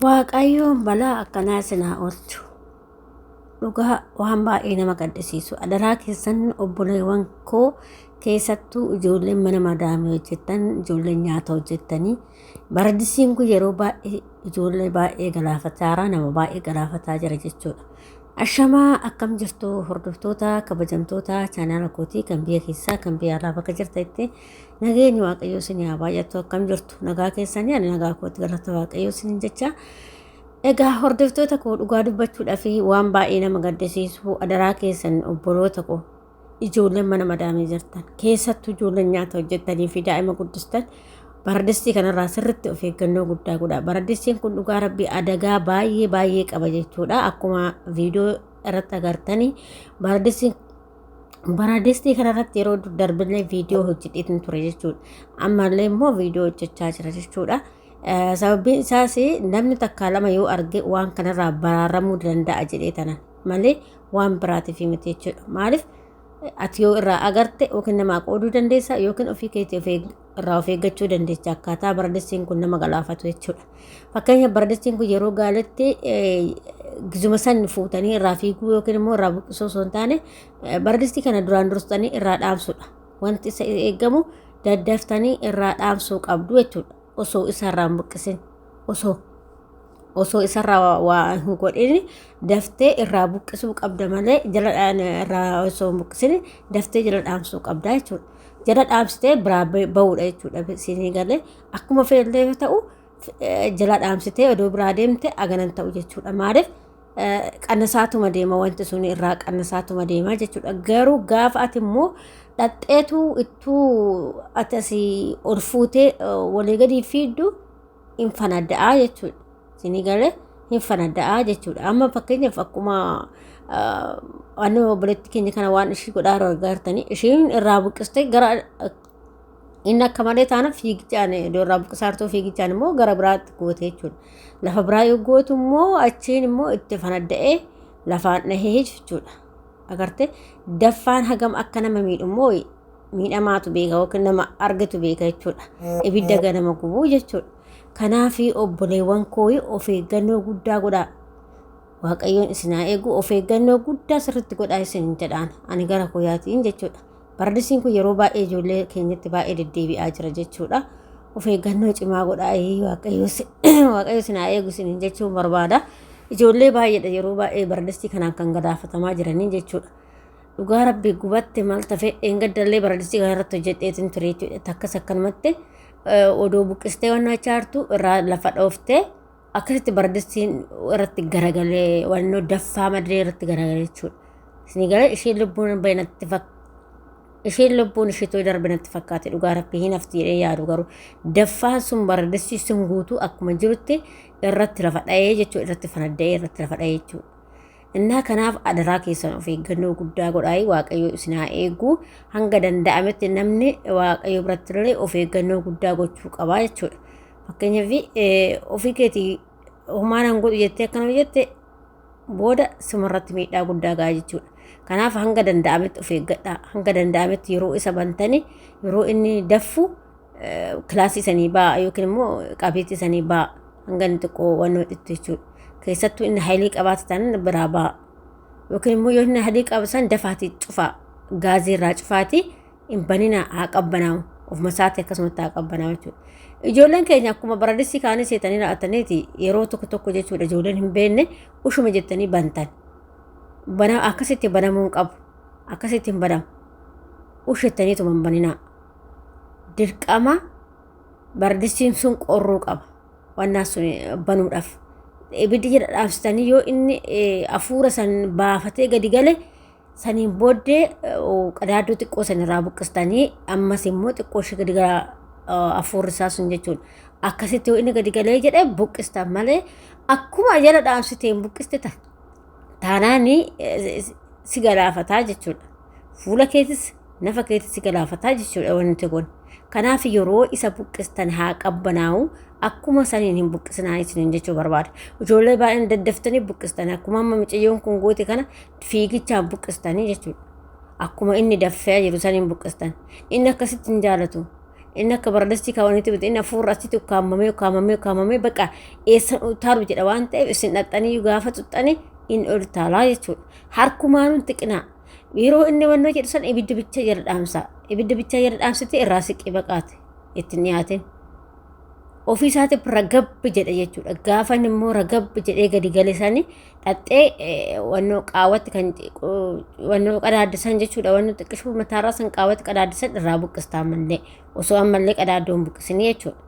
Waaqayyoon balaa akkanaa sinaa oolchu. Dhugaa waan baay'ee nama gaddisiisu. Adaraa keessan obboleewwan koo keessattuu ijoolleen mana madaamii hojjettan ijoolleen nyaata hojjettanii baradisiin kun yeroo baay'ee ijoollee baay'ee galaafataa jira nama baay'ee galaafataa jira jechuudha. Ashamaa akkam jirtu hordoftoota kabajamtoota chaanaala kootii kan biyya keessaa kan biyya alaa bakka jirtanitti nageenyi waaqayyoo isin haa baay'attu akkam jirtu nagaa keessanii ani nagaa kootti galata waaqayyoo isin jecha egaa hordoftoota koo dhugaa dubbachuudhaa fi waan baay'ee nama gaddisiisu adaraa keessan obboloota koo ijoolleen mana madaamii jirtan keessattuu ijoolleen nyaata hojjettanii fi daa'ima guddistan baradistii kanarraa sirritti of eeggannoo guddaa godhaa baradistiin kun dhugaa rabbii adagaa baay'ee baay'ee qaba jechuudha akkuma viidiyoo irratti agartanii baradistiin baradistii kanarratti yeroo darbillee viidiyoo hojjedheetin ture jechuudha ammallee immoo viidiyoo hojjechaa jira jechuudha. Sababiin isaas namni takkaa lama yoo arge waan kanarraa baraaramuu danda'a jedhee tanan. malee waan biraatiif miti jechuudha. Maaliif ati yoo irraa agarte yookiin namaa qooduu dandeessa yookiin ofii keetii of eeg- irraa of eeggachuu dandeessa akkaataa baradissiin kun nama galaafatu jechuudha. Fakkeenyaaf baradissiin kun yeroo gaaletti eh, gizuma san fuutanii irraa fiiguu yookiin immoo irraa buqqisuu osoo hin taane eh, baradistii kana duraan dursitanii irraa dhaamsuudha. Wanti isa eegamu daddaftanii irraa dhaamsuu qabdu jechuudha. Osoo isa irraa hin buqqisin osoo. osoo isarraa waa- waa hin godhin daftee irraa buqqisuu qabda malee jala dhaan- irraa osoo hin buqqisin daftee jala dhaamsuu qabda jechuudha. Jala dhaamsitee biraa ba- ba'uudha jechuudha siinii galee akkuma feellee yoo ta'u eh, jala dhaamsitee odoo biraa deemte aganan ta'u jechuudha maaliif eh, qannasaatuma deema wanti sun irraa qannasaatuma deema jechuudha garuu gaafa ati immoo dhaqxeetu ittuu ati asii ol fuutee eh, walii gadi fiiddu hin fanada'aa jechuudha. Isinii galee hin fanada'aa jechuudha. Amma fakkeenyaaf akkuma anni obboleetti keenya kana waan ishii godhaa yeroo argartanii ishiin irraa buqqistee gara inni akka malee taana fiigichaan iddoo irraa buqqisaartuu fiigichaan immoo gara biraatti goote jechuudha. Lafa biraa yoo gootu immoo achiin immoo itti fanadda'ee lafaan dhahee jechuudha. Agartee daffaan hagam akka nama miidhu immoo miidhamaatu beeka yookiin nama argetu beeka jechuudha. Ibidda ganama gubuu jechuudha. Kanaaf obboleewwan koo of eeggannoo guddaa godhaa. Waaqayyoon isin haa eegu of eeggannoo guddaa sirriitti godhaa isin jedhaan ani gara koyaatiin jechuudha. Paradisiin kun yeroo baay'ee ijoollee keenyatti baay'ee deddeebi'aa jira jechuudha. Of eeggannoo cimaa godhaa waaqayyo isin haa eegu isin jechuun barbaada. Ijoollee baay'eedha yeroo baay'ee paradisii kanaan kan gadaafatamaa jiranii jechuudha. Dhugaa rabbi gubatte maal tafe dheengaddallee baradistii kana irratti hojjedheetin ture jechuudha takkas akkanumatti odoo buqqistee waan naachaartu irraa lafa dhooftee akkasitti baradistiin irratti garagalee wannoo daffaa madree irratti garagalee jechuudha. Isinii galee isheen lubbuun bahe natti fakkaata. Isheen lubbuun isheetu darbe natti fakkaate dhugaa rabbi hin hafti jedhee yaadu garuu daffaan sun baradistii sun guutuu akkuma jirutti irratti lafa dhahee jechuudha irratti fanadda'ee irratti lafa dhahee jechuudha. Innaa kanaaf adaraa keessan of eeggannoo guddaa godhaayi waaqayyo isin haa eegu hanga danda'ametti namni waaqayyo biratti illee of eeggannoo guddaa gochuu qabaa jechuudha. Fakkeenyaaf ofii keetii homaa nan godhu jettee akkana hojjette booda simarratti miidhaa guddaa ga'a jechuudha. Kanaaf hanga danda'ametti of eeggadhaa hanga danda'ametti yeroo isa bantanii yeroo inni daffu kilaasii sanii ba'a yookiin immoo qabeetti sanii ba'a hanga inni xiqqoo waan hodhitti jechuudha. Keessattuu inni haylii qabaate taanaan biraa ba'a. Yookiin immoo yoo inni haylii qabu san dafaatii cufaa gaazii irraa cufaatii hin banina haa qabbanaa'u ofuma isaati akkasumatti haa qabbanaa'u jechuudha. Ijoolleen keenya akkuma baradisii kaanii seetanii raa'ataniiti yeroo tokko tokko jechuudha ijoolleen hin beekne ushuma jettanii bantan. Bana akkasitti banamuun qabu akkasitti hin banamu. Ushettaniituma hin baninaa. dirqama bardistiin sun qorruu qaba. Wannaa sun banuudhaaf. Ibiddi jala dhaamsitanii yoo inni afuura san baafatee gadi gale saniin booddee qadaadduu xiqqoo san irraa buqqistanii ammas immoo xiqqoo ishee gadi gara afuurri isaa sun jechuun akkasitti yoo inni gadi galee jedhe buqqistan malee akkuma jala dhaamsiteen buqqiste ta'a. taanaan si galaafataa jechuudha. Fuula keetis nafa keetis si galaafataa jechuudha wanti kun. Kanaaf yeroo isa buqqistan haa qabbanaa'u akkuma saniin hin buqqisinaa isiniin jechuu barbaada. Ijoollee baay'een daddaftanii buqqistan akkuma amma miciyyoon kun goote kana fiigichaan buqqistanii jechuudha. Akkuma inni daffee jiru saniin buqqistan. Inni akkasitti hin jaalatu. Inni akka baradastii kaawwanitti miti inni hafuurri asitti ukkaamamee ukkaamamee ukkaamamee baqa eessan utaalu jedha waan ta'eef isin dhaqxanii gaafa tuxxanii inni ol taalaa jechuudha. Harkumaan hin xiqinaa. Yeroo inni wannoo jedhu san ibidda bicha jala dhaamsaa. Ibidda bicha jala dhaamsitee irraa siqii baqaate itti hin dhiyaatin. Ofii isaatiif ragabbi jedha jechuudha. Gaafa inni immoo ragabbi jedhee gadi gale sanii dhaqxee wannoo qaawwatti kan wannoo qadaaddisan jechuudha wannoo xiqqishuu mataarraa san qaawwatti qadaaddisan irraa buqqistaa mallee osoo ammallee qadaaddoon buqqisinii jechuudha.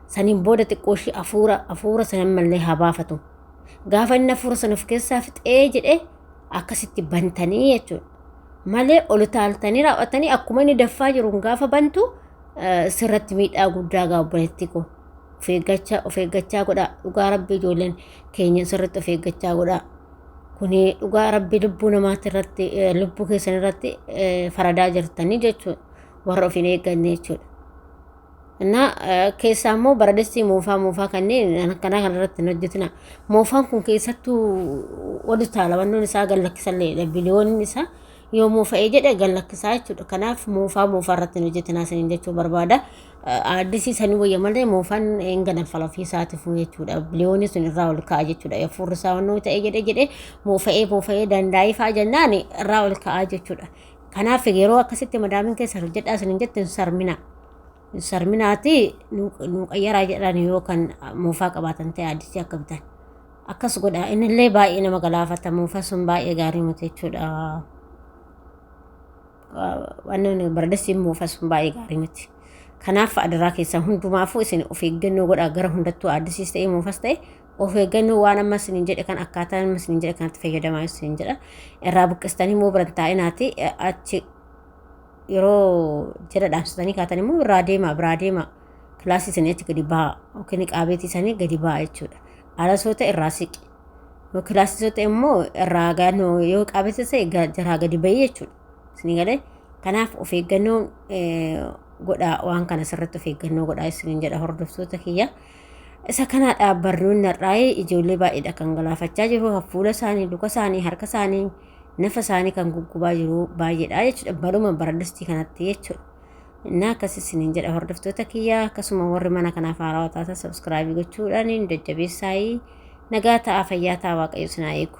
Saniin booda xiqqoo ishii afuura afuura sana ammallee haa baafatu. Gaafa inni afuura sana of keessaa fixee jedhee akkasitti bantanii jechuudha. Malee ol utaaltanii raawwatanii akkuma inni daffaa jiruun gaafa bantu sirratti miidhaa guddaa gaabbanetti koo. Of eeggachaa godhaa dhugaa rabbi ijoolleen keenya sirriitti of eeggachaa godhaa. Kuni dhugaa rabbi lubbuu namaatti irratti eh, lubbuu keessan irratti eh, faradaa jirtanii jechuudha. Warra of hin eegganne jechuudha. እና keessaa immoo baradessi moofaa moofaa kanneen akkanaa kana irratti hin hojjetina. Moofaan kun keessattuu ol utaala wannoon isaa gad lakkisallee biliyoonni isaa Yoo moofa'ee jedhe gad lakkisaa jechuudha. Kanaaf moofaa moofaa irratti hin hojjetinaa isiniin jechuu barbaada. Aaddisii sanii wayya malee moofaan hin ganafala ofii isaatiifuu jechuudha. Biliyoonii sun irraa ol ka'a jechuudha. Hafuurri isaa wannoo ta'ee jedhe jedhe moofa'ee moofa'ee dandaa'ee fa'a jennaan irraa ol ka'a jechuudha. Kanaaf yeroo akkasitti madaamin keessan hojjedhaa isiniin jettu hin sarminaa. Sarminaati nuu qayyaraa jedhan yoo kan moofaa qabaatan ta'e addisi akka bitan. Akkas godha innillee baay'ee nama galaafata moofaa sun baay'ee gaarii miti jechuudha. Wannoon bardessiin moofaa sun baay'ee gaarii miti. Kanaaf adaraa keessan hundumaafuu isin of eeggannoo godhaa gara hundattuu addisiis ta'e moofas ta'e of eeggannoo waan amma isiniin jedhe kan akkaataa amma isiniin jedhe kanatti fayyadamaa isiniin jedha. Irraa buqqistanii immoo biran taa'inaati achi yeroo jala dhaabsitanii kaatan immoo irraa deemaa biraa deemaa kilaasii isanii achi gadi bahaa yookiin niqaabeetii isanii gadi bahaa jechuudha. Alasoota irraa siqi. Yoo kilaasisoota immoo irraa gaanoo yoo qaabeessa ta'e ga- jaraa gadi bahii jechuudha. Isinii galee kanaaf of eeggannoo eh, godhaa waan kana sirriitti of eeggannoo godhaa isiniin jedha hordoftoota kiyya. Isa kanaadha barnoonni har'aa ijoollee baay'eedha kan galaafachaa jiru hafuula isaanii, luka isaanii, harka isaanii nafa isaanii kan guggubaa jiru baay'eedha jechuudha. Baruma baradustii kanatti jechuudha. Innaa akkas isiniin jedha hordoftoota kiyyaa akkasuma warri mana kanaaf haarawaa taatan sabskraabii gochuudhaan jajjabeessaayii nagaa ta'aa fayyaa ta'aa waaqayyo sinaa eegu.